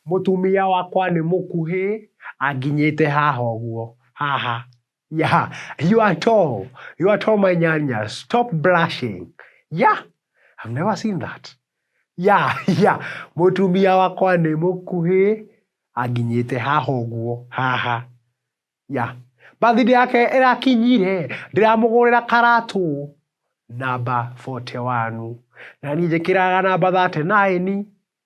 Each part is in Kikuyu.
Mũtumia wakwa nĩ mũkuhĩ anginyĩte haha ũguo. Haha. Yeah. You are tall. You are tall, my nyanya. Stop blushing. Yeah. I've never seen that. Yeah, yeah. Mũtumia wakwa nĩ mũkuhĩ anginyĩte haha ũguo. Haha. Yeah. Birthday yake ĩrakinyire, ndĩramũgũrĩra karatũ namba 41. Na niĩ njĩkĩraga namba 39.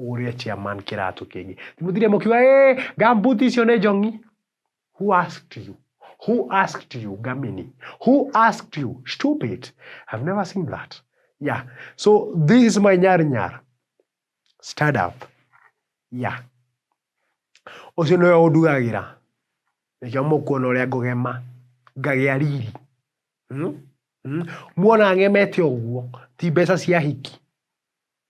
ũgũrĩre chairman kĩratũ kĩngĩ mũthire mũkiuga ee gambuti icio nĩ njongi who asked you who asked you gamini who asked you stupid i've never seen that yeah so this is my nyar nyar stand up yeah ũcio nĩwe ũndugagĩra nĩkĩo mũkuona ũrĩa ngũgema ngagĩa riri hmm? hmm? muona ng'emete ũguo ti mbeca cia hiki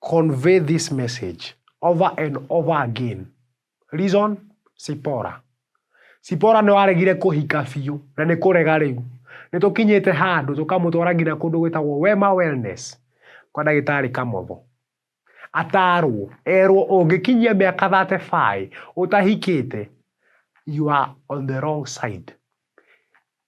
Convey this message over and over again. Reason, Sipora. Sipora nĩ waregire kũhika biũ na nĩ kũrega rĩu. Nĩ tũkinyĩte handũ tũkamũtwara nginya kũndũ gwĩtagwo Wema Wellness kwa ndagĩtarĩ Kamotho. Atarwo, erwo ũngĩkinyia mĩaka 35 ũtahikĩte you are on the wrong side.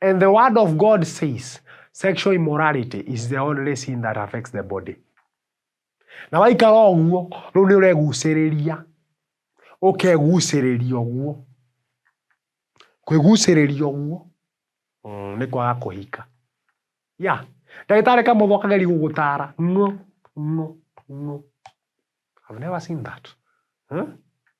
And the word of God says, sexual immorality is the only sin that affects the body. Na waikara ũguo, rĩu nĩ ũregucĩrĩria. Ũkegucĩrĩria ũguo. Kwĩgucĩrĩria ũguo. Mm, nĩ kwaga kũhika. Ya, ndagĩtarĩ kamũthwa kageri gũgũtara. No, no, no. I've never seen that. Huh?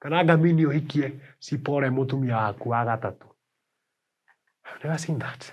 Kana ngamini ũhikie Sipore mũtumia waku wa gatatũ. I've never seen that.